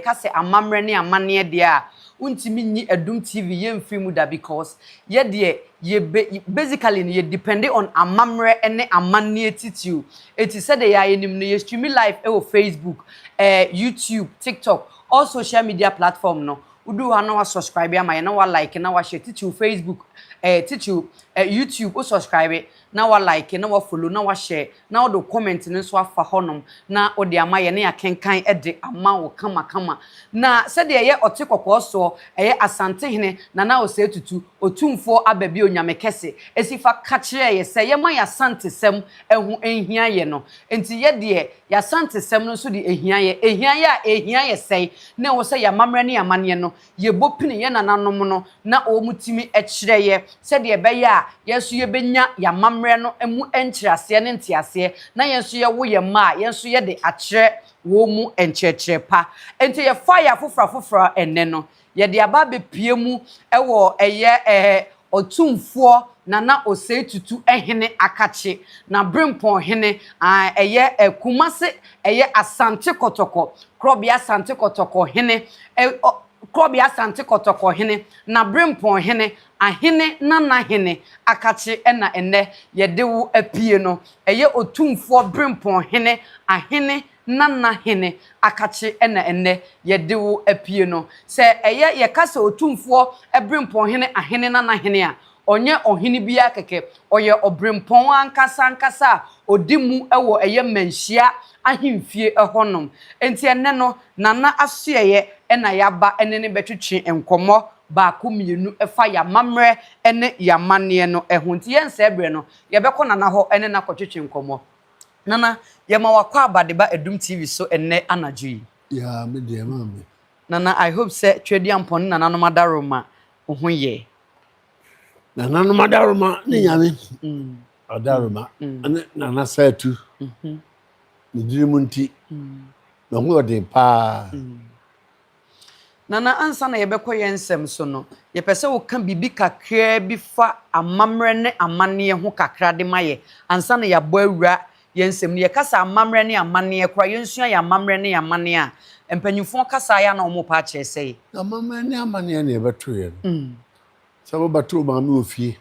ka sɛ amamerɛ ne amaneɛ deɛ a wontumi nyi adum TV yɛ mfiri mu da because yɛ deɛ yɛ be basically no yɛ depende on amamerɛ ne amaneɛ titiriw enti sɛdeɛ yɛ a yɛnim no yɛ streami live wɔ Facebook eh YouTube TikTok all social media platform no woduru hɔ a na wa subscribe ama yɛn na wa like na wa share titiriw Facebook eh titiriw eh YouTube wo subscribe na wa like na wa follow na wa share na wode wo comment no nso afa hɔ nom na wode ama yɛn na yɛakenkan de ama wo kama kama. Na sɛdeɛ ɛyɛ ɔte kɔkɔɔ soɔ, ɛyɛ Asantehene Nana Osei Tutu, Otumfoɔ Aba Bio Nyame Kɛse, si fa ka kyerɛɛ yɛ sɛ yɛma y'Asantesɛm ho nhia yɛ no. Nti yɛ deɛ, y'Asantesɛm no nso de ɛhia yɛ. Ɛhia yɛ a, ɛhia yɛ sɛn? Ne ho sɛ y'amammerɛ ne y'amanneɛ no, yɛbɔ pini yɛn nananom no na wɔtumi kyerɛ yɛ sɛdeɛ ɛbɛyɛ a yɛn nso yɛbɛnya yɛn amammerɛ no mu nkyerɛaseɛ ne nteaseɛ na yɛn nso yɛwo yɛn mma a yɛn nso yɛde akyerɛ wɔn mu nkyerɛkyerɛ pa. Enti yɛfaa yɛ afoforɔ afoforɔ ɛnnɛ no yɛde aba abɛpue mu wɔ ɛyɛ Ɔtumfoɔ Nana Osei Tutu Hene Akakye na Brempong Hene a ɛyɛ Kumase ɛyɛ Asante Kɔtɔkɔ Korɔbea Asante Kɔtɔkɔ Hene ɔ Korɔbea Asante Kɔtɔkɔ Hene na Brempong Hene Ahene Nana Hene Akakye ɛna ɛnnɛ yɛde wo apue no ɛyɛ Ɔtumfoɔ Brempong Hene Ahene Nana Hene akakye na ɛnnɛ yɛde wo apue no. Sɛ ɛyɛ yɛka sɛ Otumfoɔ Berempɔn Hene Ahene Nana Hene a, ɔnyɛ ɔhene bi ara kɛkɛ, ɔyɛ Ɔberempɔn ankasa ankasa a ɔdi mu wɔ ɛyɛ mmanhyia ahemfie hɔnom. Enti ɛnnɛ no, Nana asoɛeɛ na yɛaba ne no bɛtwetwe nkɔmmɔ baako mmienu ɛfa yɛn amammerɛ ne yɛn amanneɛ no ho. Nti yɛnsɛe berɛ no, yɛbɛkɔ Nana hɔ ne no akɔtwetwe nkɔmmɔ. Nana, yɛma wakɔ aba de ba Adum TV so ɛnnɛ anadwo yi. Yaa, me deɛ ɛma me. Nana, I hope sɛ Tweaduampɔn ne Nananom Adaroma wo ho yɛ. Nananom Adaroma ne Nyame Adaroma ne Nana Saatu ne diri mu nti, me ho yɛ ɔden paa. Nana, ansa na yɛbɛkɔ yɛn nsɛm so no, yɛpɛ sɛ woka biribi kakraa bi fa amammerɛ ne amanneɛ ho kakra de ma yɛ ansa na yɛabɔ awura yɛn nsɛm no. Yɛka sɛ amammerɛ ne amanneɛ koraa, yɛnsua yɛn amammerɛ ne yɛn amanneɛ a, mpanyimfoɔ kasa a ɛyɛ a na wɔpɛ akyerɛ sɛe. Amammerɛ ne amanneɛ na yɛbɛto yɛ no. Sɛ wobɛto wo maame wɔ fie,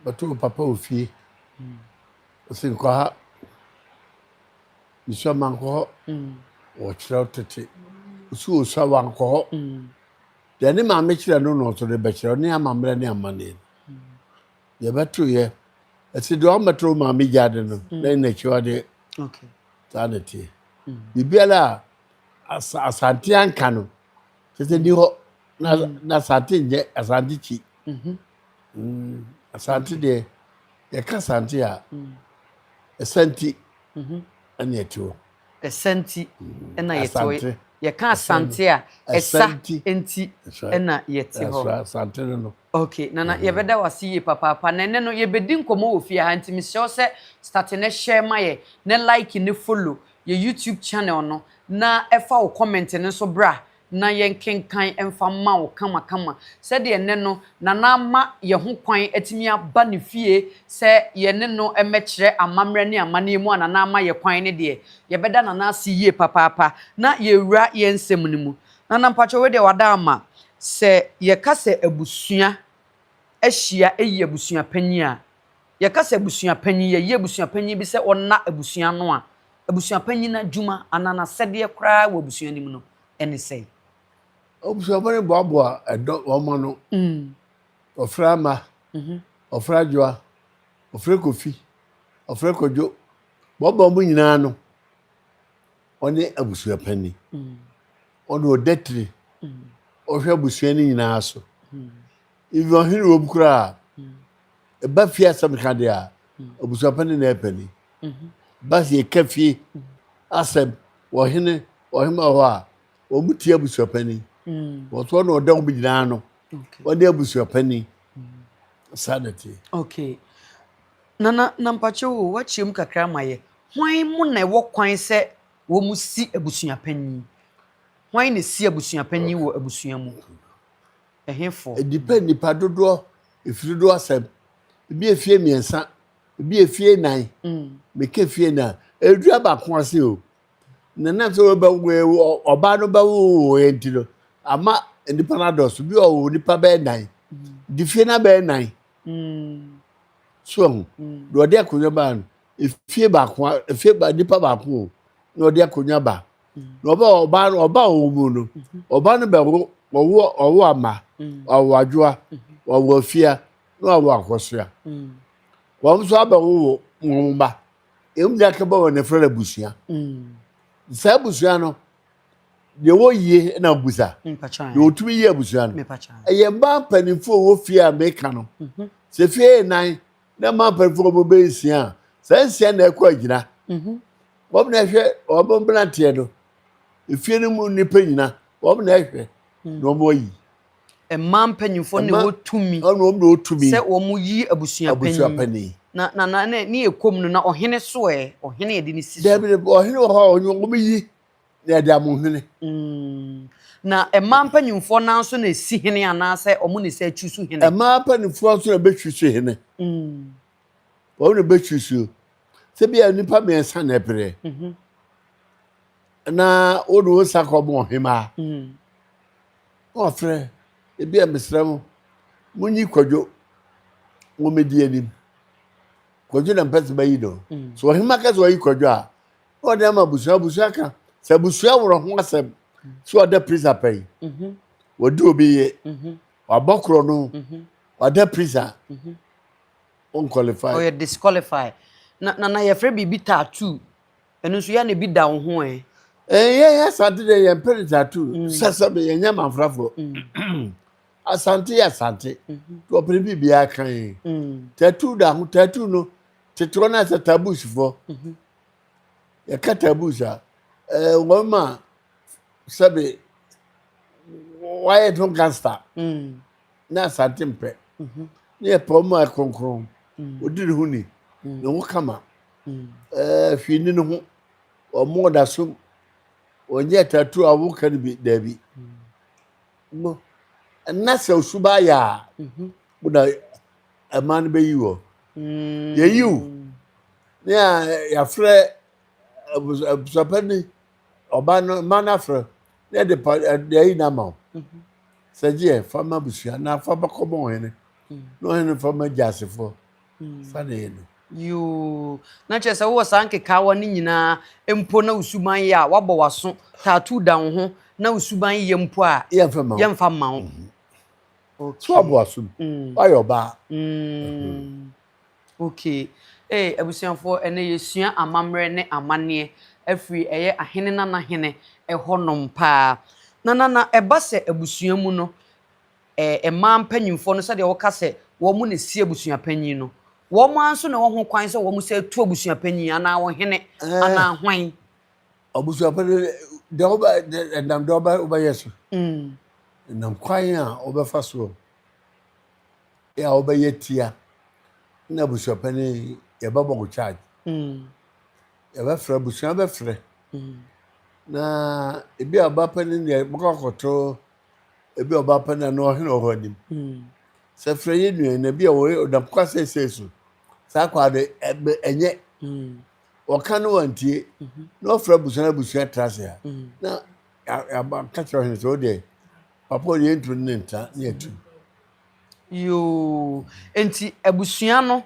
wobɛto wo papa wɔ fie, ɔse nkɔ ha. Osuawa mankɔ hɔ. Wɔkyerɛw tete. Osu Osuawa nkɔ hɔ. Deɛ ne maame kyerɛ no no nso de bɛkyerɛw ne amammerɛ ne amanneɛ no. Deɛ ɛbɛtoeɛ, ɛsɛ deɛ ɔmmɛto wo maame gya ade no na ɛyɛ n'akyiwadeɛ. Saa na ɛteɛ. Biribiara a Asante anka no, kyerɛ sɛ ɛni hɔ na Asante nyɛ Asante kyi. Asante deɛ yɛka Asante a Asante ɛna yɛte hɔ. Asante ɛna yɛte hɔ. Yɛka Asante a ɛsa nti ɛna yɛte hɔ. Asante no no. Okay nana mm-hmm. yɛbɛda wase yie papaapa na ɛnɛ no yɛbɛdi nkɔmmɔ wɔ fie ha nti mesrɛ wo sɛ starte ne share ma yɛ ne like ne follow yɛ YouTube channel no na ɛfa wo comment no nso bra na yɛnkenkan mfa mma wo kamakama sɛdeɛ ɛnnɛ no Nana ama yɛn ho kwan atumi aba ne fie sɛ yɛne no mmɛkyerɛ amammerɛ ne amanneɛ mu a Nana ama yɛn kwan no deɛ, yɛbɛda Nana ase yie papaapa na yɛawura yɛn nsɛm no mu. Nana mpakyɛ wei deɛ wada ama, sɛ yɛka sɛ abusua ahyia ɛyi abusua panyin a, Yɛka sɛ abusuapanyin, yɛyɛ abusuapanyin bi sɛ ɔnna abusua ano a, abusuapanyin no adwuma anaa n'asɛdeɛ koraa wɔ abusua no mu no ne sɛn? Abusuafoɔ no boaboa ɛdɔ wɔn mma ano. Wɔfrɛ Ama, wɔfrɛ Adwoa, wɔfrɛ Kofi, wɔfrɛ Kwadwo, boaboa wɔn nyinaa ano. Ɔne abusuapanyin. Ɔna ɔda tiri. Ɔhwɛ abusua no nyinaa so. Even ɔhene wom koraa a, Ɛba fie asɛm ka deɛ a, abusuapanin na ɛpɛ ni. Ba sɛ yɛka fie asɛm wɔ hene ɔhema hɔ a, wɔn tie abusuapanin. Wɔtoɔ na ɔda wɔn nyinaa no, wɔde abusuapanin. Saa na tie. Okay. Nana Nampakye o, wakyerɛ mu kakra ma yɛ. Hwan mu na ɛwɔ kwan sɛ wɔn si abusuapanin? Hwan na si abusuapanin wɔ abusua mu? Ɛhefo? Ɛdipɛ nnipa dodoɔ, ɛfiri do asɛm. Ɛbi yɛ fie mmiɛnsa, ɛbi yɛ fie nnan. Meka fie nnan a, ɛreduru abaako ase o. Na nam sɛ wɔbɛwo ɔbaa no bɛwowoeɛ nti no, ama nnipa no adɔɔso. Bi ɔwo nnipa bɛyɛ nnan, de fie no abɛyɛ nnan. So ahu, na ɔde akonnwa baa no, efie baako, efie ba nnipa baako o, na ɔde akonnwa baa. na ɔbɛ ɔba ɔba wɔn mu no ɔba no bɛ wo ɔwo ɔwo ama ɔwo adwoa ɔwo afia na ɔwo akɔsoa wɔn nso abɛ wo wo wɔn mma emu de akɛbɔ wɔn efra na abusua saa abusua no deɛ wɔyie na busa deɛ wɔtumi yie abusua no ɛyɛ mmaa mpanimfoɔ wɔ fie a meka no sɛ fie nan. Na ɛma mpanyinfoɔ wɔn bɛ nsia a saa nsia na ɛkɔ agyina wɔn na ɛhwɛ wɔn mmeranteɛ no efie no mu nipa nyina wɔn na ɛhwɛ na wɔn ayi. Ɛma mpanyinfoɔ na ɛwɔ tumi wɔn na ɛwɔ tumi sɛ wɔn yi abusuapanyin na na na ne yɛ kɔm no na ɔhene so ɛ ɔhene yɛde ne si so. Dɛbi ɔhene wɔ hɔ a wɔn wɔn yi Na ɛde amo hene. Mm. Na ɛmaa mpanyimfoɔ no nso na ɛsi hene anaasɛ ɔmo ne sɛ atwi so hene? Ɛmaa mpanyimfoɔ nso na ɛbɛtwi so hene. Mm. Wɔn na ɛbɛtwi so. Sɛ bi a nnipa mmiɛnsa na ɛbrɛ. Mm -hmm. Na wode wo nsa kɔ bɔ ɔhemaa. Mm. Na wɔfrɛ, ebi a mesrɛ mo, monyi kwadwo wɔmɛdi anim. Kwadwo na mpɛ sɛ bɛyi no. Mm. So ɔhema kɛ sɛ ɔyi kwadwo a, ɔde ama abusua abusua ka sɛ abusua worɔ ho asɛm so ɔda prisa pɛ yi mhm. wɔde obi yɛ mhm. wabɔ korɔ no mhm. wada prisa unqualified ɔyɛ disqualify na na na yɛfrɛ biribi tattoo ɛno nso yɛ na ebi da wo ho ɛ ɛyɛ yɛ asante deɛ yɛn pɛ ne tattoo mm. sɛsɛ bi yɛn nyɛ manfrafoɔ mm. asante yɛ asante wɔpere bi biara kan tattoo da ho tattoo no tete wɔn asɛ taboos foɔ yɛka taboos a, ɛɛ wɔn ma sɛbi wɔayɛ no gangster mm. na asante mpɛ mhm. ne yɛ pɛ wɔn a kronkron mm. odi ne ho ni mm. ne ho kama ɛɛ hwii ni ne ho wɔn ɔda so wɔn yɛ tattoo a wɔka no bi daabi no ɛna sɛ osuba ayɛ a wɔda. Ɛmaa no bɛyi hɔ. Yɛyiw ne a yɛafrɛ abusuapɛ ne ɔba no mma no afrɛ na yɛde pa de ayi no ama wo. Mhm. Sɛ gyeɛ fa ma abusua na fa bɛkɔma ɔhene mm. na ɔhene fa ma gyasefoɔ mm. fa na yɛ no. yoo na kyerɛ sɛ wowɔ saa nkekaawa no nyinaa mpo na wosuban yɛ a woabɔ w'aso taatoo da wo ho na wosuban yɛ mpo a yɛmfa mma wo mhm. Okay. So aboa so. Mm. Why your ba? Mm. Okay. Hey, eh, abusuafoɔ ɛnɛ yɛsua amammerɛ ne amanneɛ afiri ɛyɛ ahene na n'ahene ɛhɔnom paa na na na ɛba sɛ abusua mu no ɛɛ eh, mmaa mpanyinfoɔ no sɛdeɛ wɔka sɛ wɔn na esi abusua panyin no wɔn ara nso na ɛwɔ ho kwan sɛ wɔn sɛ tu abusua panyin anaa ɔhene eh. anaa hwan. Abusuafo no deɛ wobɛ ɛnam deɛ wobɛ wobɛyɛ so. Ɛnam mm. kwan a wobɛfa soɔ a wobɛyɛ tia na abusuapɛ no yɛbɛbɔ wo charge. Mm. Yɛbɛfrɛ abusua bɛfrɛ mm. na ebi a ɔbapɛ no deɛ bɛkɔ akɔto ebi a ɔbapɛ no na ɔhene ɔhɔ anim. Sɛ frɛ yɛ nua na bi a wɔyɛ ɔdam kwa sɛsɛ so saa kwa de ɛnyɛ Wɔka no wantie, na wɔfrɛ abusua no abusua tra ase ha. Na yɛaba ka kyerɛ ɔhene sɛ, wo deɛ, papa ɔde yɛntu ne ntra ne atu. Yoo, enti abusua no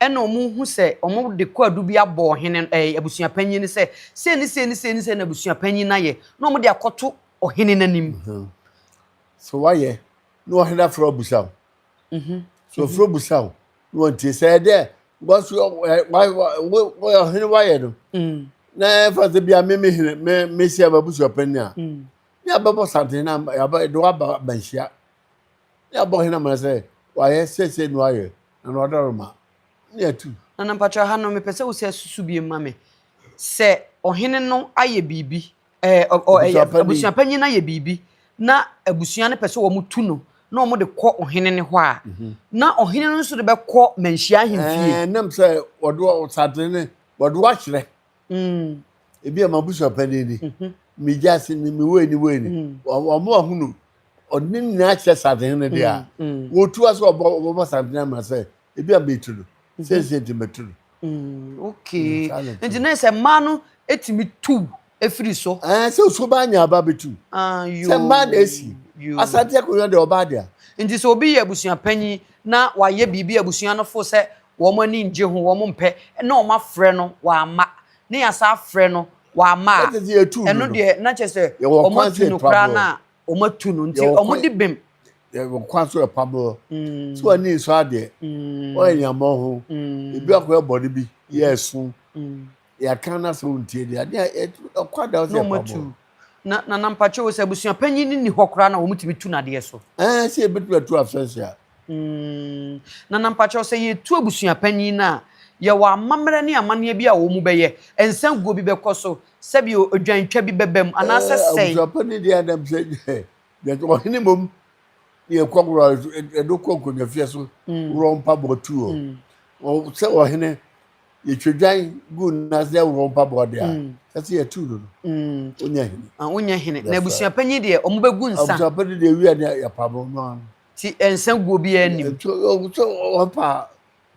ɛna wɔn hu sɛ wɔn de kwaadu bi abɔ ɔhene ɛɛ abusua panyin no sɛ sei ne sei ne sei ne sei na abusua panyin no ayɛ na wɔn de akɔto ɔhene n'anim. Mhm. So wayɛ na ɔhene afrɛ ɔbusaw. Mhm. So ɔfrɛ mhm. ɔbusaw. na wɔntie sɛ ɛyɛ dɛ because yɛ wɔyɛ ɔhene wayɛ no mm. na ɛfa sɛ bia me me hene me me hyɛ abusua panyin a mm. ne abɛbɔ santen na yɛde waba banhyia ne abɔ hene amana sɛ wayɛ sɛsɛ na wayɛ na na ɔdɔrɔ ma ne atu nana mpatwa ha no mepɛ sɛ wo sɛ susu bi ma me sɛ ɔhene no ayɛ biribi Ɛɛ, ɔ, ɔ, ɛyɛ, Abusuapanyin. abusuapanyin no ayɛ biribi na abusua no pɛ sɛ wɔtu no na wɔde kɔ ɔhene no hɔ a, na ɔhene no nso de bɛkɔ manhyia ahemfie. Ɛɛ, nam sɛ wɔde wɔ- wɔsade ne wɔde wɔakyerɛ Mm, ebi a m'abusuapanyin ni mhm, me gyase ni me wei ni wei ni Mm. Wɔ- wɔn a wɔahunu ɔde ne nyinaa kyerɛ sadehene deɛ a mm, mm. wɔtua sɛ wɔbɔ wɔbɛbɔ sadehene ama sɛ ebi a metu no sɛnsɛ nti mɛtu no mm, okay mm, nti na sɛ mmaa no ɛtumi tu ɛfiri so eh, sɛ osuo baa nya aba bɛtu ah, sɛ mmaa na ɛsi asante akonnwa deɛ ɔbaa deɛ nti sɛ obi yɛ abusua panyin na wayɛ biribi abusua no fo sɛ wɔn ani ngye ho wɔn mpɛ na wɔn afrɛ no wɔama ne yasa afrɛ no wɔama a ɛno deɛ na kyɛ sɛ wɔn atu no koraa no a wɔn atu no nti wɔn de bɛm. yɛwɔ kwan so ɛpa borɔ mm. sɛ wɔn ani nsɔ adeɛ mm. wɔyɛ nyamɔ ho mm. ebi akɔ ɛbɔ no bi yɛ ɛso yɛaka no asɛ wɔntie deɛ adeɛ ɛkɔ ada sɛ ɛpa borɔ na na nampakyɛ wɔ sɛ abusua panyin no ni hɔ koraa na wɔn tumi tu n'adeɛ so. ɛɛ sɛ ebi tu atu afɛnse a. Mm. Nana, mpakyɛw, sɛ yɛretu abusuapanyin no a, yɛwɔ amammerɛ ne amanneɛ bi a wɔbɛyɛ. Nsanguo bi bɛkɔ so, sɛbi odwantwa bi bɛba mu, anaasɛ sɛn? Eh, abusuapanyin deɛ anam sɛ yɛtɔ ɔhene mmom na yɛkɔ wura ɛdo kɔ nkonnwafie so mm. wura mpaboa tu o. Mm. Sɛ ɔhene yɛtwa dwan gu nase dɛ wura mpaboa deɛ a, mm. sɛ sɛ yɛtu no no, wonya hene. Wonya hene. Na abusuapanyin deɛ, wɔbɛgu nsa. Abusuapanyin deɛ wia ne yɛpamo no ano. Ti nsa guo bi a nim. Ɛtu ɔgu sɛ ɔfa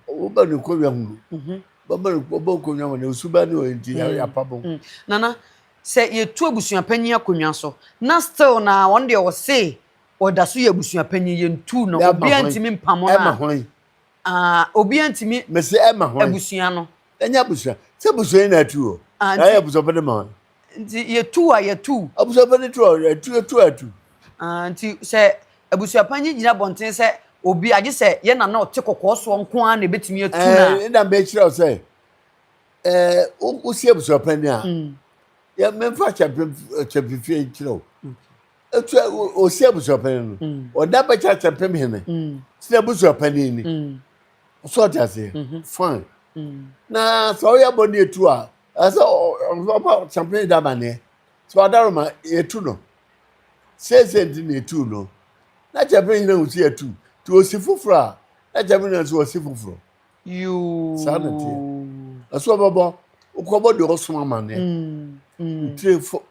woba ne kɔnwa mu no bɛma no ɔbɔ nkɔnwa mu na osu ba ne ɔyɛ nti yɛapa bɔ. Nana sɛ yɛtu abusua panyin akonnwa so na still na wɔn deɛ ɔse ɔda so yɛ abusua panyin yɛntu na obiara ntumi mpamo no a. Ah, obiara ntumi. Mese ɛma hwan. Abusua no. Ɛnyɛ abusua. Sɛ abusua yi na atu hɔ. Ah, nti. Na ayɛ abusuafo de ma hwan. Nti yɛtu a yɛtu. Abusuafo de tu a yɛtu, yɛtu a yɛtu. Ah, nti sɛ abusuapanyin gyina abɔnten sɛ obi agye sɛ yɛn na na ɔte kɔkɔɔ soɔ nko ara na ebetumi atu na. Ɛɛ, ɛna mbɛ kyerɛ wo sɛ, ɛɛ, wosi abusuapanyin a. Mm. Yɛ mɛmfa kyɛmpem kyɛmpefie nkyerɛ wo. etu osi abusuapanin no mm. ɔda bɛkyɛ akyɛmpem hene mm. ti na abusuapanin ni mm. so ɔte aseɛ mm-hmm. fine na sɛ ɔyɛ bɔ ne etu a ɛsɛ ɔba akyɛmpem da amaneɛ sɛ ɔdaro ma etu no seesei nti na etu no na akyɛmpem hene osi etu te osi foforɔ a na akyɛmpem hene nso osi foforɔ yoo saa na teɛ ɛso ɔbɛbɔ okɔbɔ deɛ ɔsoma amaneɛ ntire fo.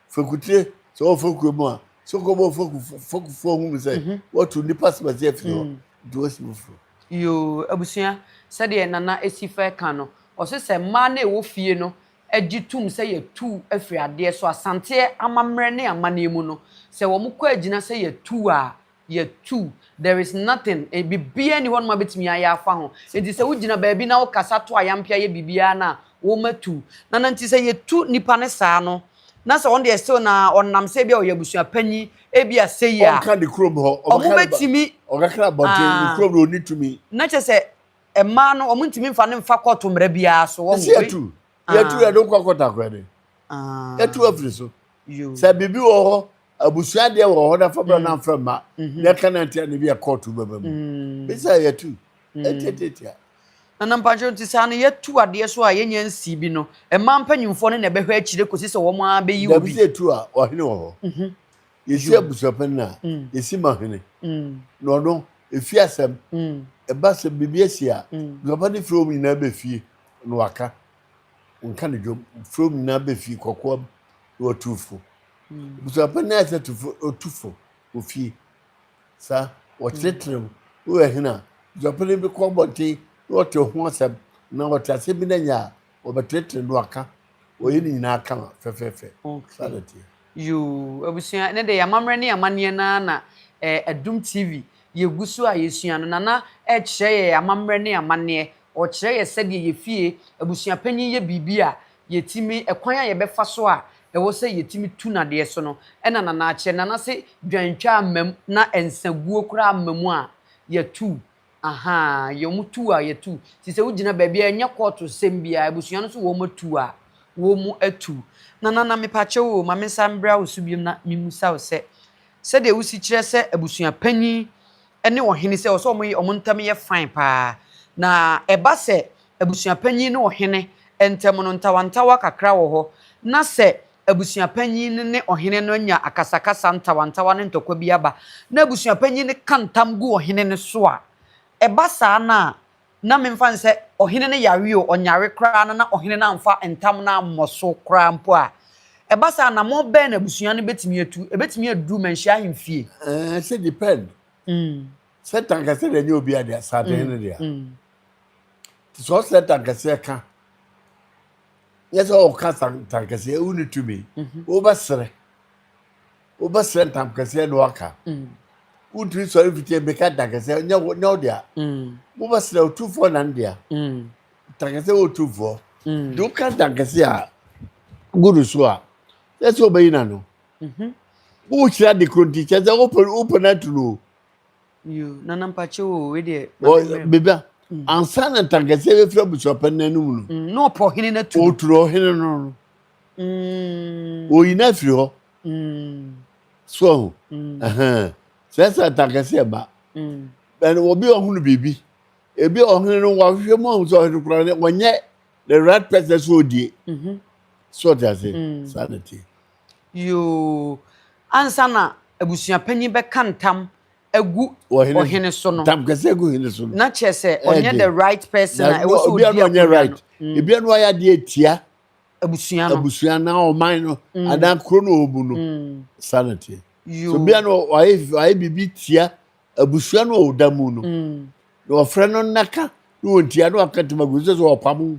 Fekutire, sɛ ɔwɔ fekuro mu a, sɛ ɔkɔ bɔ feku fekufoɔ ho mu sɛ mhm. wɔtu nipa sɛbɛsɛ afiri hɔ mm. nti wɔsi foforɔ. Yoo abusua sɛdeɛ nana esi fɛ ka no ɔsi sɛ mmaa na ɛwɔ fie no gye tum sɛ yɛtu afiri adeɛ so asanteɛ amammerɛ ne amanneɛ mu no sɛ wɔn kɔ agyina sɛ yɛtu a yɛ tu. There is nothing, eh, biribiara nni hɔnom a wobɛtumi ayɛ afa ho. Enti sɛ wogyina baabi na wokasa to ayampe ayɛ biribiara no a, wɔatu. Na na nti sɛ yɛtu nnipa no saa no, na sɛ ɔno deɛ still na ɔnam sɛ ebia ɔyɛ abusua panyin, ebia sei a. Ɔnka ne kurom hɔ. Ɔbɛka ne ba. Wɔbɛtumi. Ɔbɛka abɔnten. Ah. Ne kurom no, ɔnni tumi. Na kyerɛ sɛ, mmaa no, wɔntumi mfa no mfa kɔɔto mmara biara so. Wɔn. Ɛsɛ yɛtu. yɛtu ah. yɛde nkɔ kɔtakora de ah. yɛtu afiri so sɛ biribi wɔ hɔ abusua deɛ wɔ hɔ na fa bra mm. na mfrɛ mma mm-hmm. na ɛka na ntia na bi ɛkɔɔto bɛba mu mm. bisa yɛtu mm. ɛtiatiatia nana mpakyɛw nti saa no yɛtu adeɛ so a yɛnya nsi bi no ɛma mpanyimfoɔ no na ɛbɛhwɛ akyire kɔsi sɛ wɔn ara bɛyi obi dabi sɛ ɛtu a ɔhene wɔ hɔ mm-hmm. yɛsi abusuapɛn no a yɛsi ma hene na ɔno ɛfi asɛm ɛba sɛ biribi asi a busuapɛn no firi wɔn nyinaa bɛfie na wɔaka, wɔka no dwom, mfurom nyinaa befi kɔkoam na wɔatu fo. Abusuapɛn ayɛ sɛ tufo, otu fo wɔ fie. Sa wɔkyerɛkyerɛ mu, na wɔyɛ hene a, abusuapɛn bi kɔ abɔnten na wɔte ho asɛm, anaa wɔte asɛm bi na nya a, wɔbɛkyerɛkyerɛ na wɔaka. Wɔyɛ ne nyinaa ka fɛfɛɛfɛ. Saa na ɛteɛ. Yoo abusua ɛnɛ deɛ yɛamammerɛ ne yɛamanneɛ no ara na eh, Adum TV yɛgu so a yɛsua no. Nana ɛrekyerɛ yɛ amammerɛ ne amanneɛ. Ɔrekyerɛ yɛ sɛdeɛ yɛ fie abusuapanyin yɛ biribi a yɛtumi, ɛkwan a yɛbɛfa so a ɛwɔ sɛ yɛtumi tu no adeɛ so no ɛna Nana akyerɛ. Nana se dwan twaa mmam na nsaguo koraa mmamu a yɛtu Ahaa yɛ wɔn tu a yɛtu ti sɛ wogyina baabi a ɛnyɛ court sɛm biara abusua no nso wɔn tu a wɔn tu na nana mepakyɛw oo ma mensan mbra wo so biom na memusa wo sɛ sɛdeɛ wosi kyerɛ sɛ abusua panyin ne ɔhene sɛ wɔsɛ wɔn wɔn ntɛm yɛ fine paa na ɛba sɛ abusua panyin ne ɔhene ntɛm no ntawantawa kakra wɔ hɔ na sɛ abusuapanyin no ne ɔhene no anya akasakasa ntawantawa ne ntɔkwa bi aba, na abusuapanyin no ka ntam gu ɔhene no so a, ɛba saa no a, na memfa no sɛ ɔhene no yare o, ɔnyare koraa no na ɔhene no amfa ntam no ammɔ so koraa mpo a, ɛba saa a, anammɔn bɛn na abusua no betumi atu? Ebetumi adu manhyia ahemfie? Ɛsɛ depend. Satan kɛse deɛ ɛnyɛ obi ade, asaaden no deɛ. Nti sɛ ɔsatan kɛseɛ ka. Nyɛ sɛ ɔka ntankɛseɛ wo ne tumi wobɛserɛ wobɛserɛ ntamkɛseɛ na waka wontumi sɔre mfitie mmeka ntankɛseɛ nyɛ wo nyɛ wo dea wobɛserɛ otumfoɔ na ndea ntankɛseɛ wɔ otumfoɔ de woka ntankɛseɛ a gu no so a sɛ sɛ ɔbɛyi na no wokyerɛ ade koro nti kyɛ sɛ wopɛ wopɛ no atu no Yoo, Nana mpakyɛ oo, wei deɛ ma Ɔ- memmrɛ mu. bebia ansa na ntankɛseɛ bɛfiri abusuapɛn no anum no Mm, Na ɔpɔ hene no atu no. ɔturu ɔhene no no Mm, ɔyi no afiri hɔ mm, so ahu mm, Ɛhɛn. sɛ sɛ ntankɛseɛ ba mm. ɛn obi a ɔhunu biribi ebi a ɔhene no wahwehwɛ mu ahu sɛ ɔhene koraa no ɔnyɛ the right person so ɔdie Mhm, so ɔte ase mm. saa na tie Yoo, ansa na abusuapanyin bɛka ntam agu ɔhene so no, ntamkɛse agu hene so no, na kyerɛ sɛ ɔnyɛ the right person a ɛwɔ sɛ ɔdi akonnwa right. Mm. Ebia no ayɛ adeɛ atia abusua no, abusua na ɔman no, mm. anaa kuro no ɔbu no, mm. saa na teɛ. So bia no ayɛ biribi tia abusua no a ɔda mu no, mm. na ɔfrɛ no nnaka na ɔntia na ɔka tamagu sɛ sɛ ɔpamo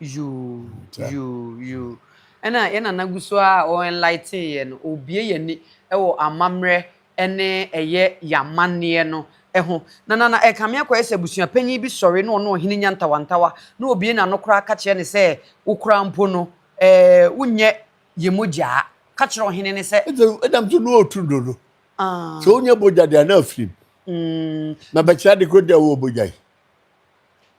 Yoo yoo yoo ɛna yɛn nana gu so ara a ɔ enlighten yɛn no, ɔrebue yɛn ani wɔ amammerɛ ne ɛyɛ yɛn amanneɛ no ho. Na na na ɛkame akɔyɛ sɛ abusuapanyin bi sɔre na ɔne ɔhene nya ntawantawa na ɔbue n'ano koraa ka kyerɛ no sɛ, Wo koraa mpo no, ɛɛ wonyɛ yɛn mogya a. Ka kyerɛ ɔhene no sɛ. Ɛnti ɛnam nso na ɔretu dodo. Sɛ ɔnya bogya deɛ a na afiri mu. Na bɛkyerɛ ade koraa deɛ a ɔwɔ bogya yi.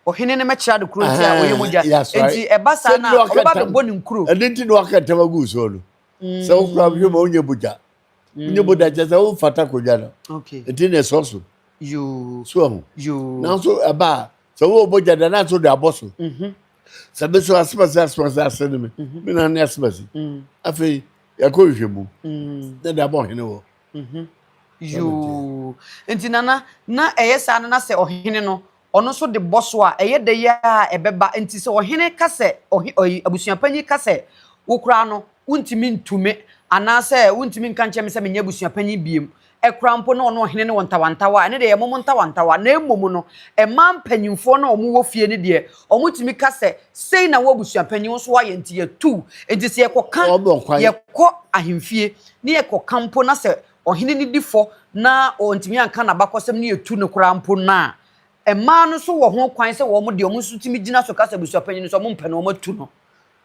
Ɔhene no mɛkyerɛ ade koro nti a ɔyɛ mogya. Nti ɛba saa na ɔbɛba bɛbɔ ne nkuro. Ɛno nti na waka ntam agu soɔ no. Sɛ wokora hwɛ ma wonyɛ mogya. Wonyɛ mogya kyɛ sɛ womfata kodwa no. Nti na ɛsɔ so. So ahu. Nanso ɛba a, sɛ wowɔ mogya da na nso de abɔ so. Sɛ me so asemase asemase ase ne me. Me na ne asemase. Afei yɛkɔ nhwɛ mu. Na de abɔ ɔhene wɔ. Mhm. Yoo. Nti nana na ɛyɛ saa no na sɛ ɔhene no ɔno nso de bɔ so a ɛyɛ dɛ yi a ɛbɛba nti sɛ ɔhene ka sɛ ɔhe ɔyi abusuapanyin ka sɛ wo koraa no wontumi ntu me anaasɛ wontumi nka nkyerɛ me sɛ menyɛ abusuapanyin biem ɛkoraa mpo na ɔne ɔhene ne wɔ ntawantawa a ɛno deɛ ɛyɛ mom ntawantawa na mmom no mmaa mpanyinfoɔ no a wɔwɔ fie no deɛ Wɔtumi ka sɛ, Sei na wo abusuapanyin nso ayɛ, enti yɛatu wo. Enti sɛ yɛkɔka, yɛkɔ ahemfie na yɛkɔka mpo na sɛ ɔhene no di fɔ na wantumi anka n'abakɔsɛm na yɛatu no koraa mpo no a, mmaa no nso wɔ ho kwan sɛ wɔn de, wɔn nso tumi gyina so ka sɛ abusuapanyin no sɛ wɔmpɛ no, wɔatu no.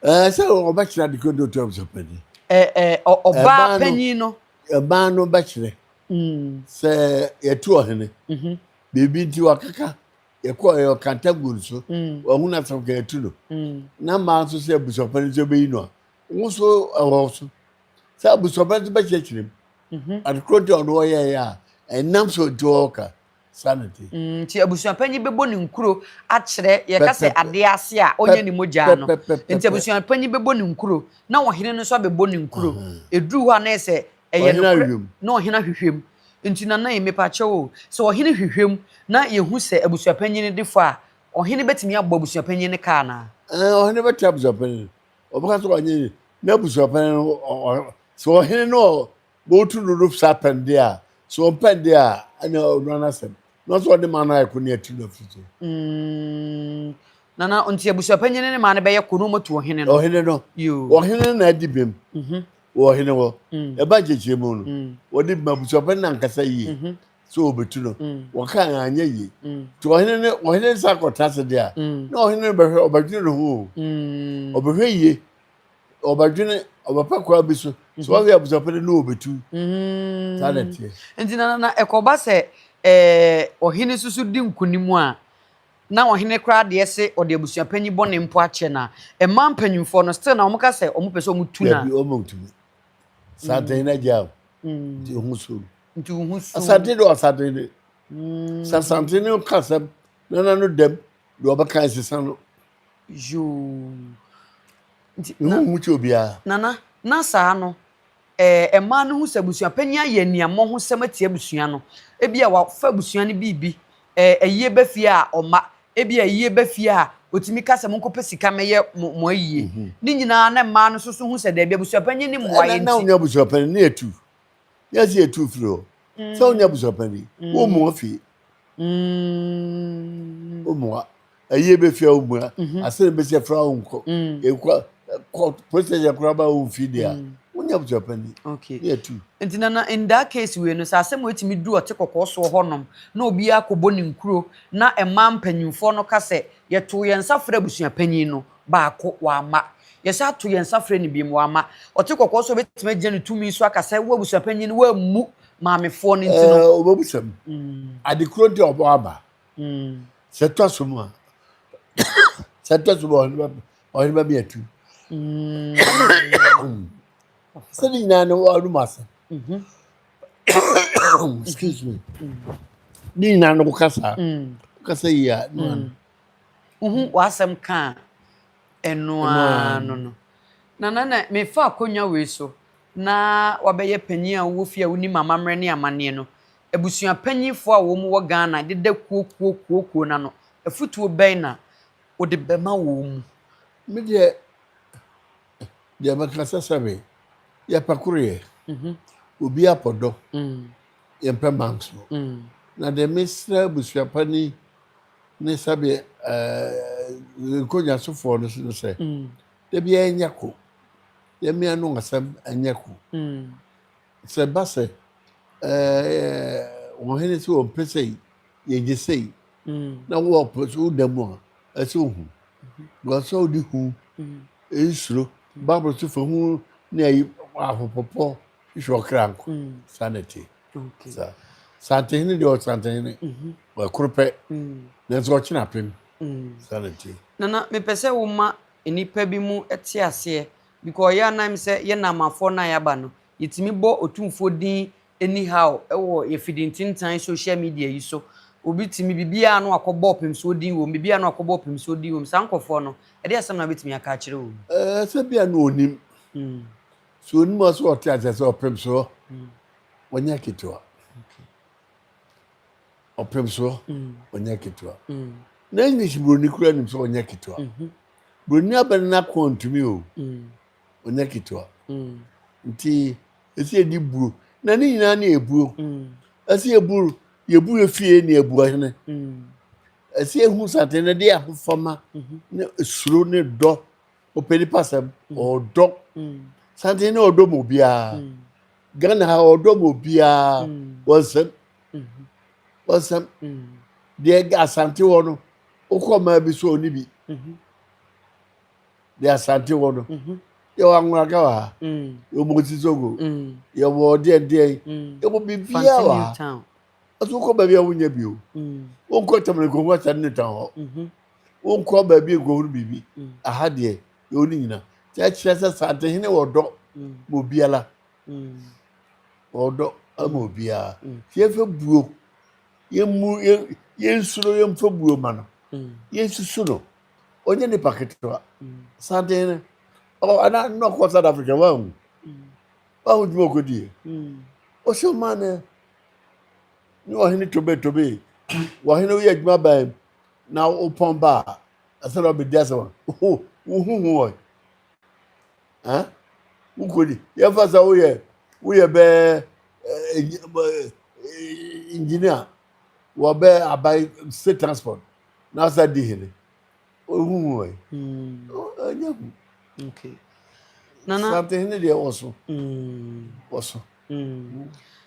Ɛɛ sɛ wɔbɛkyerɛ ade kodo to abusuapanyin. Ɛɛ ɔbaa panyin no. Mmaa no bɛkyerɛ mm. sɛ yɛatu ɔhene. Mhm. Biribi nti wakeka. yɛkɔ ɛyɛ ɔkata gu no so ɔhu no asɛm ka yɛtu no na mmaa nso sɛ abusuafo no nso bɛyi no a wo nso ɛwɔ so sɛ abusuafo no nso bɛkyerɛkyerɛ mu mhm. adekorɔ nti ɔno ɔyɛɛyɛ a ɛnam so nti ɔɔka sanity mm, nti abusuapanyin bɛbɔ ne nkuro akyerɛ yɛka sɛ adeɛ ase a ɔnyɛ ne mogyaa no nti abusuapanyin bɛbɔ ne nkuro na ɔhene no nso abɛbɔ ne nkuro ɛduru hɔ a na ɛsɛ Ɛyɛ Ɔhene nokorɛ ahwehwɛm. na ɔhene ahwehwɛm. Nti Nana yi, mepakyɛw o, sɛ ɔhene hwehwɛm na yɛhu sɛ abusuapanyin no defo a, ɔhene bɛtumi abɔ abusuapanyin no ka anaa? Ɛɛ, ɔhene bɛtaa abusuapanyin no. Ɔbɛka sɛ ɔnye n'abusuapanyin no, ɔ, ɔ, sɛ ɔhene no ɔ, botu no do saa pɛn de a, sɛ ɔmpɛ de a, ɛne ɔnoara n'asɛm. Na ɔsɛ ɔde maa no ayɛ ko na yɛatu no afiri so. Mm, Nana, nti abusuapanyin no ne maa no bɛyɛ ko na wɔatu ɔhene no? Ɔhene no. Yoo. Ɔhene no na adi bem. Mhm. Wɔ ɔhene hɔ. Ɛbaa nkyɛkyerɛ mu no, wɔde maa abusuapɛn no ankasa yie sɛ wɔbɛtu no. Wɔkaa no anyɛ yie. Nti ɔhene no, ɔhene no san kɔtena ase deɛ a, na ɔhene no bɛhwɛ, ɔbɛdwene ne ho o. Ɔbɛhwɛ yie, ɔbɛdwene, ɔbɛpɛ kwan bi so sɛ wahwɛ abusuapɛn no ne wɔbɛtu. Saa na ɛteɛ. Nti na ɛkɔba sɛ ɔhene nso so di nkonim a, na ɔhene koraa deɛ se ɔde abusuapanyin bɔne mpo akyɛ no a, mmaa mpanyimfoɔ no still na wɔka sɛ wɔpɛ sɛ wɔtu no a. Dabi, wɔntumi. Santen no agyaa wo, nti wo ho suu no. Nti wo ho suu no. Asante de ɔsanten de. Sɛ asante no ka asɛm na n'ano dam deɛ ɔbɛka ɛsesa no. Yoo. Nti. Ne ho nhu kyɛ obiara. Nana, na saa no, Ɛɛ, mmaa no hu sɛ abusuapanyin ayɛ aniammɔ ho sɛm atia abusua no. Ebia wafa abusua no biribi. Ɛɛ, ayie ba fie a, ɔma. Ebia ayie ba fie a, otumi ka sɛ, Monkɔpɛ sika mmɛyɛ mo mo ayie. Ne nyinaa na mmaa no nso so hu sɛ daabi, abusuapanyin no mmoa yɛn nti. Na wonya abusuapanyin no yɛtu. Yɛn nso yɛtu firi hɔ. Sɛ wonya abusuapanyin, wommoa fie. Wommoa. ɛyɛ bɛ fia wo mmura mhm. asɛrɛ bɛ sɛ fra wo nkɔ mhm. ɛkɔ kɔ protɛsɛ koraa ba wo mfi deɛ a mhm. wonya abusua pani ne atu nti na na in that case wei no sɛ asɛm wɔatumi du ɔte kɔkɔɔ soɔ hɔnom na obiara kɔbɔ ne nkuro na ɛma mpanyimfoɔ no ka sɛ yɛtoo yɛn nsa frɛ abusua panyin no baako wama yɛsɛ ato yɛn nsa frɛ no bi mu wama ɔte kɔkɔɔ so bɛtumi agyina ne tumi so aka sɛ wo abusua panyin no woammu maamefoɔ no nti no ɔbɛbusam mm. adekuro nti ɔbɔ aba sɛ tɔ so mu a sɛ tɔ so mu a ɔhene bɛmi atu sɛ ne nyinaa no ɔnom ase excuse me ne nyinaa no woka saa woka sɛ yie a ne ano wohu w'asɛm ka a ɛno ara no no na na na mefa akonnwa wei so na wabɛyɛ panyin a wowɔ fie a wonim amammerɛ ne amanneɛ no abusua panyimfo a wɔn wɔ Ghana deda kuo kuo kuo kuo no ano, afutuo bɛn na wode bɛma wɔn? Me deɛ, deɛ mɛka sɛ sɛbe yɛpɛ koroyɛ, mhm. obiara pɔ dɔ, mm. yɛmpɛ manso. Mm. Na deɛ mesrɛ abusua pani ne sɛbe eh, nkonnwasofoɔ no so no sɛ, mm. da biara ɛnyɛ ko, yɛmmea no asɛm ɛnyɛ ko. Mm. Sɛ ɛba sɛ wɔn hene sɛ wɔmpɛ sɛ yɛgye sei na wɔpɛ sɛ woda mu a ɛsɛ ohu because sɛ wode hu nsuro bible so fa hu ne ayi ahopɔpɔ hwehwɛ ɔkra nko sanity sa santehene deɛ ɔsantehene ɛkoro pɛ nanso ɔkyena apem sanity nana mepɛ sɛ woma nnipa bi mu te aseɛ Because yɛ ara na ɛm sɛ yɛ Naamanfoɔ no a yɛaba no, yɛtumi bɔ Otumfoɔ din anyhow wɔ yɛ fidintintan social media yi so. Obi tumi, biribiara a na wakɔbɔ Ɔpemsoɔ din wɔ mu, biribiara a na wakɔbɔ Ɔpemsoɔ din wɔ mu. Saa nkorɔfoɔ no, ɛdeɛ asɛm na wobɛtumi aka akyerɛ wɔ mu? Ɛɛ, sɛ bia na ɔnim. Sɛ ɔnim a, sɛ ɔte aseɛ sɛ Ɔpemsoɔ ɔnyɛ ketewa. Ɔpemsoɔ ɔnyɛ ketewa. Na English buroni koraa nim sɛ ɔnyɛ ketewa. Buroni abɛn no akɔn ntumi o. Ɔnyɛ ketewa. Nti ɛsɛ yɛdi buro. Na ne nyinaa ne ɛburo. Ɛsɛ yɛburo yɛburo efie ne abua hene. Ɛsɛ yɛhu santene no de ahofama ne suro ne dɔ ɔpɛ nipa sɛm ɔdɔ. Santene no ɔdɔ mu obiara. Ghana ha ɔdɔ mu obiara. Wɔnsɛm. Wɔnsɛm. Deɛ asante hɔ no Wokɔ ɔman bi so ɔni bi mhm. de asante wɔ no mhm. yɛwɔ anworaka wɔ ha mm. yɛwɔ mosisoko mm. yɛwɔ ɔdeɛdeɛ mm. yɛwɔ biribiaa wɔ ha ɛso wokɔ baabi a wonya bio wonkɔ tamale kɔhu asane ne tan hɔ mhm. wonkɔ baabi nkɔhunu biribi aha deɛ yɛwɔ ne nyina nti ɛkyerɛ sɛ santehene wɔ dɔ ma obiara wɔ dɔ ma obiara nti yɛfɛ buo Yɛmmu yɛ yɛnsu no yɛmfa buo ma no yɛnsusu no ɔnyɛ nipa ketewa santen no ɔ ana na ɔkɔ South Africa wanhu wanhu dwuma ɔkɔdie ɔsɛ ɔma no ne ɔhene tobe tobe ɔhene woyɛ adwuma baa na wopɔn baa ɛsɛ na ɔbɛdi asɛm a wohu ho ɔ Huh? Wokɔ ni. Yɛmfa sɛ woyɛ woyɛ bɛɛ engineer wɔ bɛɛ aban state transport na asa di hene. Ohuhu ɛ. Hmm. Ɛnyɛ hu. Okay. Nana. Sante hene deɛ wɔ so. Hmm. Wɔ so.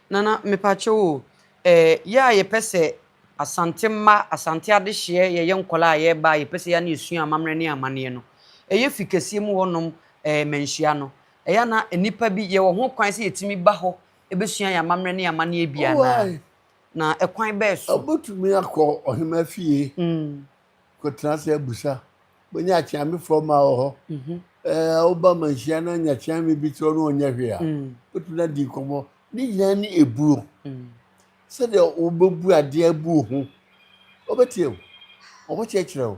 Nana mepakyɛw o, yɛ a yɛpɛ sɛ Asante mma, Asante adehyeɛ, yɛyɛ nkwadaa a yɛreba a yɛpɛ sɛ yɛ a na yɛsua amammerɛ ne amanneɛ no, ɛyɛ fi kɛseɛ mu hɔnom manhyia no, ɛyɛ a na nnipa bi, yɛwɔ ho kwan sɛ yɛtumi ba hɔ bɛsua yɛn amammerɛ ne amanneɛ bi anaa? Na ɛkwan bɛn so? Wobɛtumi akɔ ɔhemmaa fie Kɔtena ase abusa. Bɛnya akyeame frɔ ma wɔ hɔ. Ɛɛ woba manhyia na nya kyeame bi kyerɛ na ɔnyɛ hwee a, wobɛtumi no adi nkɔmmɔ. Ne nyinaa ne ɛbuo. Sɛdeɛ wobɛbu adeɛ abu wo ho. Ɔbɛtie wo. Ɔbɛkyerɛkyerɛ wo.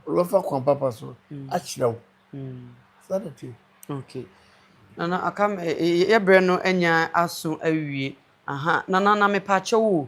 Ɔbɛfa kwan papa so akyerɛ wo. Saa na ɛteɛ. Ok. Nana aka me, yɛ berɛ no anya aso awie. Aha, Nana na mepaakyɛw o,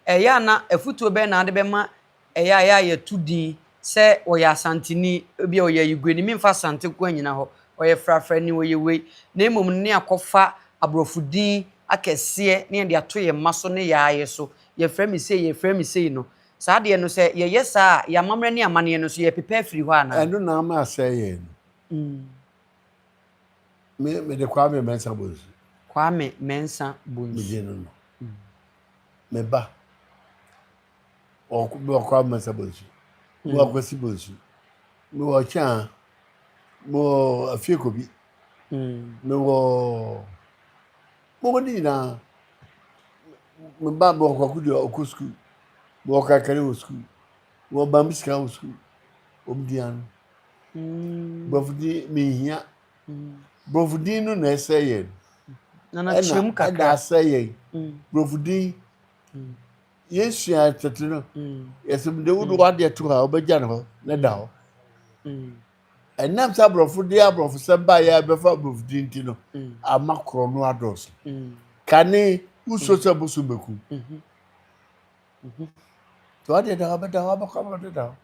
ɛyɛ a na afutuo bɛn na wode bɛma Ɛyɛ a, yɛ a yɛto din sɛ ɔyɛ Asanteni, ebia ɔyɛ Ayigueni. Memfa Asante nko ara nnyina hɔ. Ɔyɛ frafrani, ɔyɛ wei. Na mmom no, na yɛakɔfa Aborɔfo din akɛseɛ na yɛde ato yɛn mma so ne yɛn ara yɛn so. Yɛfrɛ me sei, yɛfrɛ me sei no. Saa adeɛ no, sɛ yɛyɛ saa a, yɛn amammerɛ ne yɛn amanneɛ no nso, yɛrepepa afiri hɔ anaa? Ɛno na ama asɛe yɛn no. Me, mede Kwame Mensah Bonsu. Kwame Mensah Bonsu. Megye no no. Me ba. ɔkɔ bi ɔkɔ amasa bonsu bi hmm. ɔkɔ si bonsu bi wɔ kyaa bi wɔ afieko bi bi wɔ mɔgɔdi nyinaa mi ba bi ɔkɔ akudi ɔkɔ sukuu bi wɔ kakari wɔ sukuu bi wɔ bambi sika wɔ sukuu omi di ano hmm. borɔfo di mi hia hmm. borɔfo di no na ɛsɛ yɛn ɛna ɛda asɛ yɛn borɔfo di. yesua tete no yɛsɛ mu dawudu mm. wadeɛ to hɔ a wobɛgya ne hɔ ne da hɔ mm. ɛnam sɛ aborɔfo de aborɔfo sɛm ba yɛ bɛfa aborɔfo di nti no mm. ama korɔ no adɔɔso kane wusuo sɛ boso bɛku mm-hmm. mm-hmm. nti wadeɛ da hɔ bɛda hɔ abɛkɔ ama de da hɔ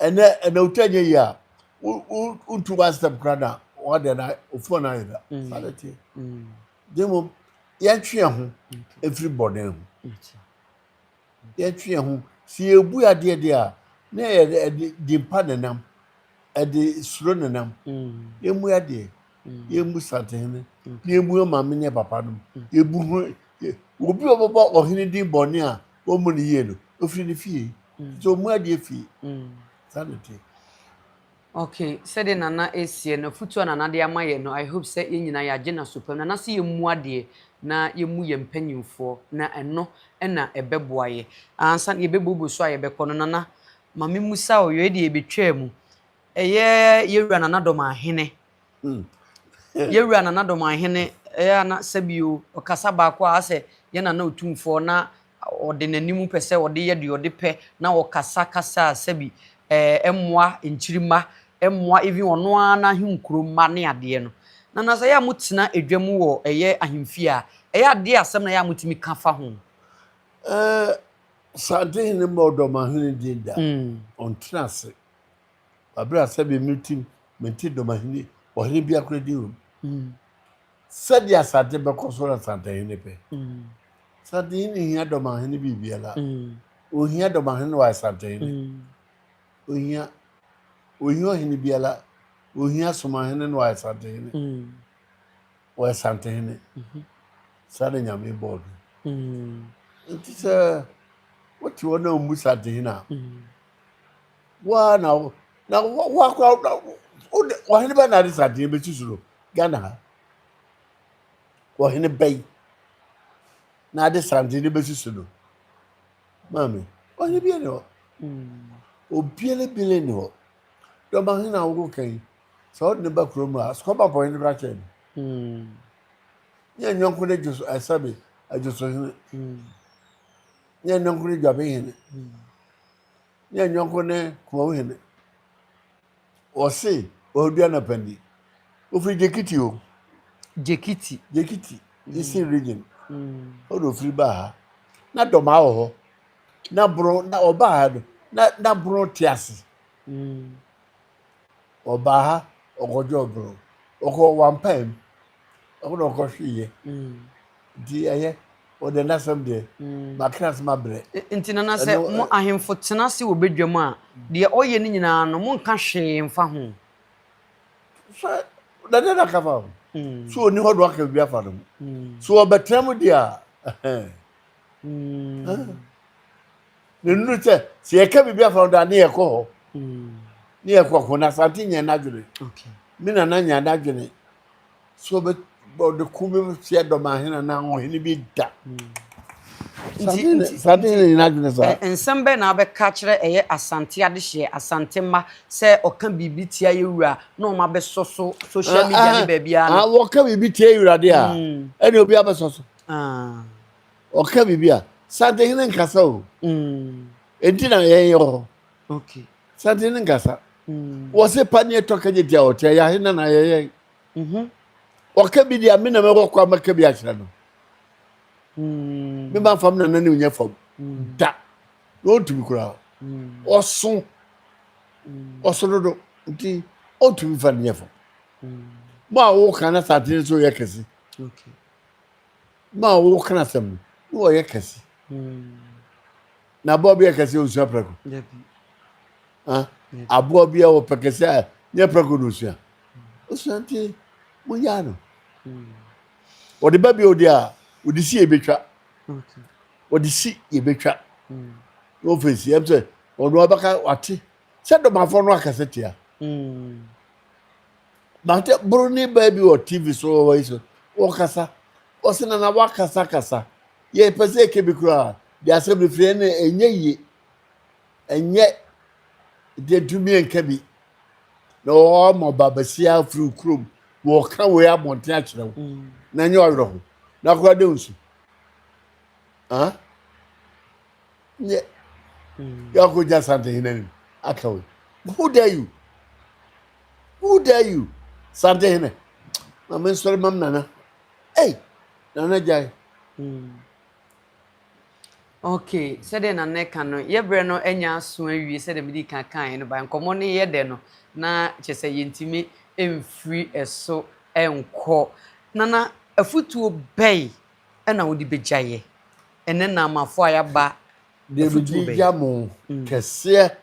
ɛnɛ ɛnɛ wotwa nyɛ yie a wontu wasɛm kora na wadeɛ na ofon ayɛ da fa ne tie Na mmom yɛntwe yɛn ho mfiri bɔne ho. Yɛntwe yɛn ho. Sɛ yɛbu adeɛ deɛ a, na yɛde dimpa na nam, ɛde suro na nam. Yɛmmu adeɛ, yɛmmu santehene, na yɛmmu maame ne papa nom. Yɛbu ho, obi a ɔbɛbɔ ɔhene din bɔne a wɔmmu no yie no, ɔfiri ne fie. Nti ɔmmu adeɛ fie. Saa na ɛteɛ. Okay sɛdeɛ Nana ɛɛseɛ no afutuo a Nana de ama yɛn no I hope sɛ yɛn nyinaa yɛagye n'asopam. Nana se yɛn mua adeɛ na yɛn mu yɛn mpanyinfoɔ na ɛno na ɛbɛboa yɛ. Ansa na yɛ bɛ bobo so a yɛ bɛ kɔ no Nana ma me musa wo, yɔɛ deɛ yɛ bɛ twaa mu ɛyɛ yɛ wura Nana Dɔmah Hene. Mm. Yɛwura Nana Domanhene ɛyɛ a na sɛbio ɔkasa baako a asɛ yɛ Nana Otumfoɔ na ɔde n'anim pɛ sɛ ɔde yɛ deɛ ɔde pɛ na ɔkasa kasa a sɛbi ɛɛ ɛmmoa nkyirima ɛmmoa even ɔno ara n'ahenkuro mma ne adeɛ no. Nana sɛ ɛyɛ a motena edwa mu wɔ ɛyɛ ahemfie a ɛyɛ a deɛ asɛm na ɛyɛ a motumi ka fa ho? Ɛɛ Santehene mmɔ Ɔdɔmahene din da. Mm. Ɔntena ase. Aber a sɛdeɛ meretsim mente dɔm ahene, ɔhene biara koraa din wom. Sɛdeɛ asante bɛkɔ so na santahene pɛ. Santahene nhia dɔm ahene biribiara. Ɔnhia dɔm ahene na wayɛ santahene. Ɔnhia. Ɔnhia ɔhene biara. Ɔnhia som ahene na wayɛ santahene. Ɔyɛ santahene. Saa na Nyame bɔɔ no. Nti sɛ wote hɔ na wommu santahene a, Wo ara na wo na wo akora na wo de ɔhene bɛn na ade saa deɛ bɛsi so no Ghana ha ɔhene bɛn na ade saa deɛ bɛsi so no maame ɔhene bia ne hɔ obiara bile ne hɔ dɔba hene a wokɔ kan sɛ wode ne ba kurom a sukɔba bɔ hene bra kyɛn no nyɛ nyɔnko ne dwoso ɛsɛbe adwoso hene nyɛ nyɔnko ne dwabe hene ne yɛn yɔnko ne Kumawu hene. Wɔse Ɔredua anapa ni. Ofiri Gyekiti o. Gyekiti. Gyekiti, Eastern region. Hɔ na ofiri baa ha. Na dɔmaa wɔ hɔ. Na boro na ɔbaa ha no na na boro te ase. ɔbaa ha ɔkɔgye ɔboro ɔkɔ wampae mu ɛhɔ na ɔkɔhweeɛ mm. nti ɛyɛ ɔdɛ n'asɛm deɛ mm. makra ase mabrɛ nti nana sɛ mo ahemfo tena ase wɔ badwam a deɛ ɔyɛ no nyinaa no monka hwee mfa ho sɛ dɛdɛ na ka fa ho mm. so ɔni hɔ do aka bi afa no mu so ɔbɛtena mu deɛ a na nnuru sɛ sɛ yɛka biribi afa no da ne yɛkɔ hɔ ne yɛkɔ ko na asante nyɛ n'adwene me nana nya n'adwene sɛ ɔde ko bi hyɛ dɔmahene anaa ɔhene bi da asante hene nyɛ n'adwene saa nsɛm bɛn na abɛka kyerɛ ɛyɛ asante adehyeɛ asante mma sɛ ɔka biribi tia yɛ wura na ɔma bɛsɔ so social media ne baabiara no wɔka biribi tia yɛ wura de a ɛne obi abɛsɔ so Ɔka biribi a, Santehene nkasa o. Enti na yɛn yɛwɔ hɔ. Santehene nkasa. Wɔse pa ne ɛtɔ kagye tia ɔte a, yɛahe na na yɛyɛ. Mhm. Ɔka bi deɛ a, me na mɛwɔ kɔ a mɛka bi akyerɛ no. Mema fam na n'anim nyɛ fam. Da. Na ɔntumi koraa. Ɔso. Ɔso dodo. Nti ɔntumi fa no nyɛ fam. Mo a woka na Santehene nso yɛ kɛse. Ma ɔwɔ wo kra sɛm no na ɔyɛ kɛse. Na aboa bi a kɛse a ɔnsua prako. Aboa bi a ɔpɛ kɛse a nyɛ prako na ɔsua. Ɔsua nti mongyaa no. Ɔde ba bi a ɔde a ɔde si yɛbɛtwa. Ɔde si yɛbɛtwa. Na ɔfɛ si ɛm sɛ ɔno abɛka wate sɛ dɔmafoɔ no akɛse tea. Mate boroni baa bi wɔ TV so wɔ yi so, wɔkasa. Wɔse na na wakasa kasa. Yɛpɛ sɛ yɛka bi koraa, de asɛm no firi ɛne ɛnyɛ yie. Ɛnyɛ deɛ ntumi nka bi. Na wɔama ba basia afiri kurom, wɔka wei abɔnten akyerɛ wo. Mm. Na ɛnyɛ ɔwerɛ ho. Na koraa dɛ nsu. Ah? Nyɛ. Mm. Yɛakɔgya santehene anim aka wei. Who dare you? Who dare you? Sante hene. Ma me nsɔre mam nana. Ei, nana gyae. Hmm. Okay, sɛdeɛ na ne ka no, yɛ berɛ no anya aso awie sɛdeɛ mede ka kaeɛ no ba nkɔmmɔ no yɛ dɛ no na kyerɛ sɛ yɛntumi mfiri ɛso nkɔ. Nana, afutuo bɛn ɛna wode bɛgyaeɛ ɛnɛ naamanfoɔ a yɛaba Deɛ mede gya mo kɛseɛ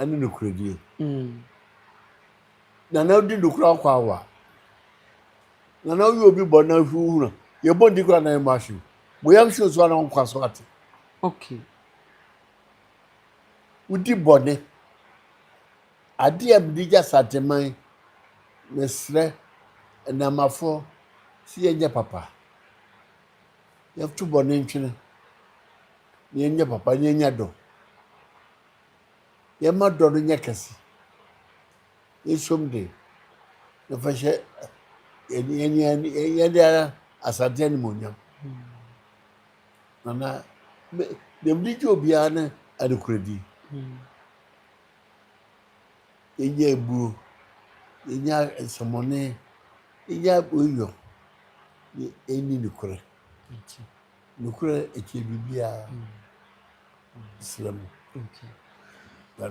ne nokorɛdie. Na na wodi nokora akɔ awa. Na na woyɛ obi bɔ na hwɛ wohunu. Yɛbɔ ndi kora na yɛmmɔ ahwe. Mo yam hye nso a na wonkwa so ate. Okay. Wodi bɔne. Adeɛ a mede gya Santeman, mesrɛ, nnamafoɔ, sɛ yɛnyɛ papa. yɛto bɔne ntwene, na yɛnyɛ papa, na yɛnya dɔ. Yɛma dɔ no nyɛ kɛse. Yɛsom de, yɛfa hyɛ yɛde ara asante animuonyam. Nana, deɛ mede gye obiara ne adekorɛdi. Yenya eburo, yenya nsɛmɔne, yenya oiyɔ, na yenni nokorɛ akyi. Nokorɛ kyɛn biribiara. Mesrɛ mo.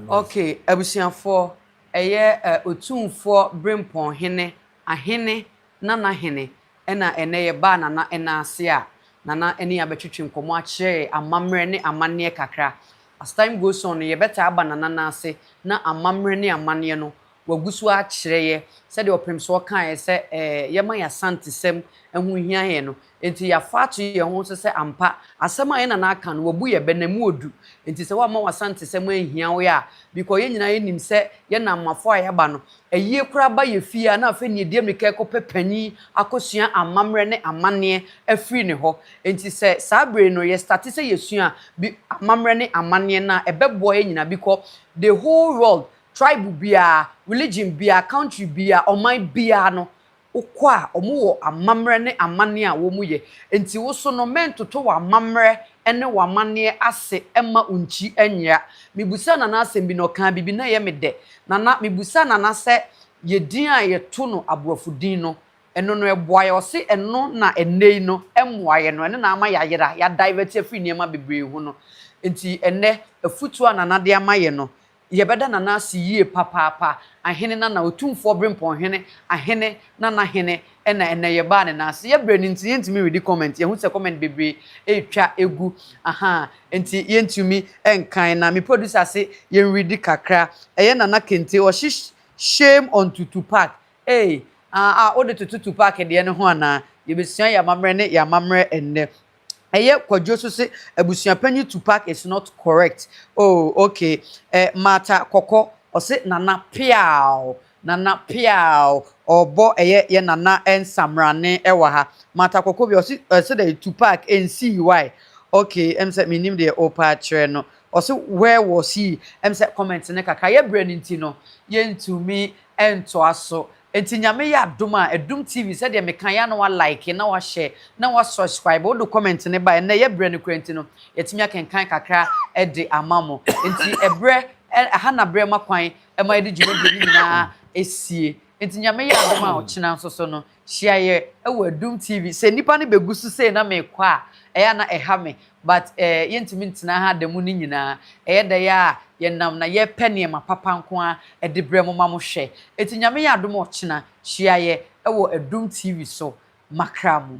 Ok, abusuafoɔ, ɛyɛ Otumfoɔ Berempɔn Hene, Ahene Nana Hene. Ɛna ɛnnɛ yɛbaa Nana nan ase a Nana ne yɛn abɛtwetwe nkɔmmɔ akyerɛ yɛn amammerɛ ne amanneɛ kakra. As time goes on no, yɛbɛtaa aba Nana nan ase na amammerɛ ne amanneɛ no wagu so akyerɛ yɛ sɛdeɛ Ɔpemsoɔ kaeɛ sɛ ɛɛ yɛma yɛn Asantesɛm ho hia yɛn no. Enti yɛafa ato yɛn ho so sɛ ampa asɛm a yɛn Nana aka no wabu yɛ bɛ na ɛmu ɔdu. Enti sɛ woamma w'Asantesɛm anhia wo yɛ a, bikɔ yɛn nyinaa yɛnim sɛ yɛn Nammafoɔ a yɛaba no Ayie koraa ba yɛ fie a na afei nea ɛdi ammirika rekɔpɛ panin akɔsua amammerɛ ne amanneɛ afiri ne hɔ. Enti sɛ saa berɛ yi no yɛstate sɛ yɛsua bi amammerɛ ne amanneɛ no a, ɛbɛboa yɛn nyinaa bikɔ the whole world, tribe biara, religion biara, country biara, ɔman biara no Wokɔ a, wɔwɔ amammerɛ ne amanneɛ a wɔyɛ. Enti wo nso no, mɛntoto w'amammerɛ ne w'amanneɛ ase mma wo nkyi nyera. Mebisaa Nana asɛm bi, na ɔkaa biribi, na ɛyɛ me dɛ. Nana, mebisaa Nana sɛ yɛn din a yɛto no aborɔfo din no, ɛno no ɛboa yɛn? Ɔse ɛno na ɛnnɛ yi no ɛmmoa yɛn no, ɛno na ama yɛayera, yɛadivɛte afiri nneɛma bebree ho no. Enti ɛnnɛ, afutuo a Nana de ama yɛn no, Yɛbɛda Nana ase yie papaapa, Ahene Nana, Otumfoɔ Brempɔn Hene, Ahene Nana Hene, ɛna ɛnɛ yɛbaa ne nan ase. Yɛbrɛ no nti yɛntumi redi comment, yɛhu sɛ comment bebree ɛretwa ɛgu, ahaa, nti yɛntumi nkan na me producer se yɛnredi kakra. Ɛyɛ Nana Kente, ɔhye shame on to Tupac, eei, ah ah, wode toto Tupac deɛ no ho anaa? Yɛbɛsua yɛn amammerɛ ne yɛn amammerɛ ɛnnɛ. Ɛyɛ kwadwo so se abusuapanyin Tupac is not correct oh ok eh Martha Kɔkɔ ɔse Nana peaw Nana peaw ɔɔbɔ ɛyɛ yɛ Nana Nsamrane ɛwɔ ha Martha Kɔkɔ bi ɔse ɔse dɛn Tupac ɛnsii why ok ɛm sɛ mennim deɛ oopɛ akyerɛ no ɔse where was he ɛm sɛ comment no kakra yɛ berɛ no nti no yɛntumi ɛntoa so Enti Nyame yɛ adom a Adum TV sɛdeɛ mekaeɛ a na wa like na wa share na wa subscribe wode comment no baeɛ nnɛ yɛbrɛ no koraa nti no yɛatumi akenkan kakra de ama mo enti ɛbrɛ ɛha na berɛ ma kwan ma yɛde dwumadie no nyinaa ɛsie enti Nyame yɛ adom a ɔkyena nso so no hyia yɛ wɔ Adum TV sɛ nnipa no bɛgu so sei na mekɔ a ɛyɛ a na ɛha me But eh, yɛntumi ntena ha da mu no nyinaa. Ɛyɛ dɛn ara a, yɛnam na yɛrepɛ nneɛma papa nko ara de brɛ mo ma mo hwɛ. Enti Nyame yɛ adom a ɔkyena, hyia yɛ wɔ Adum TV so makra mu.